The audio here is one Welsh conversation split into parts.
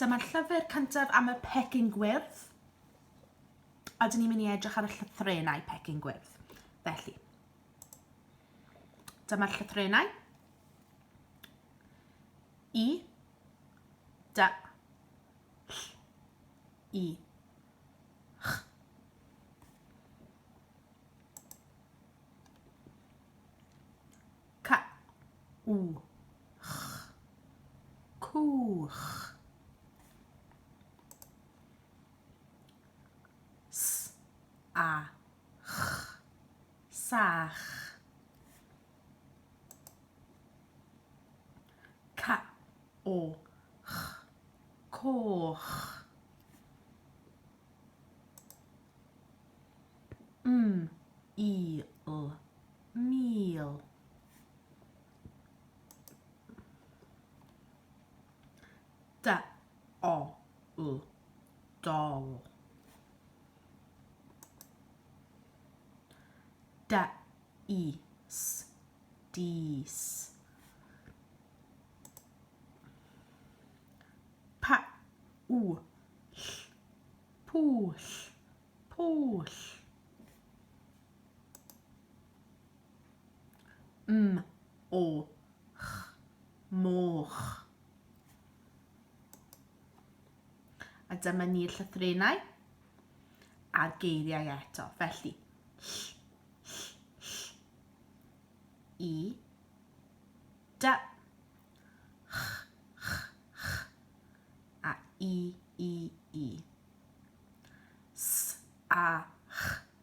Dyma'r llyfr cyntaf am y pecyn gwyrdd, a dyn ni'n mynd i edrych ar y llythrenau pecyn gwyrdd. Felly, dyma'r llythrenau. I, da, ll, i, ch. Ca w ch cwch s a ch sach ca o ch coch m i l mil. Da, o, l, dol. Da, i, s, dis. Pa, u, ll, pwll, pwll. M, o, ch, moch. A dyma ni'r llythrenau a'r geiriau eto. Felly, ll, ll, ll, i, da, ch, ch, ch, a i, i, i. S, a, ch,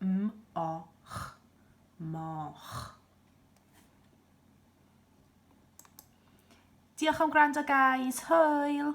M-o-ch, moch. Diolch am gwrando guys, hwyl!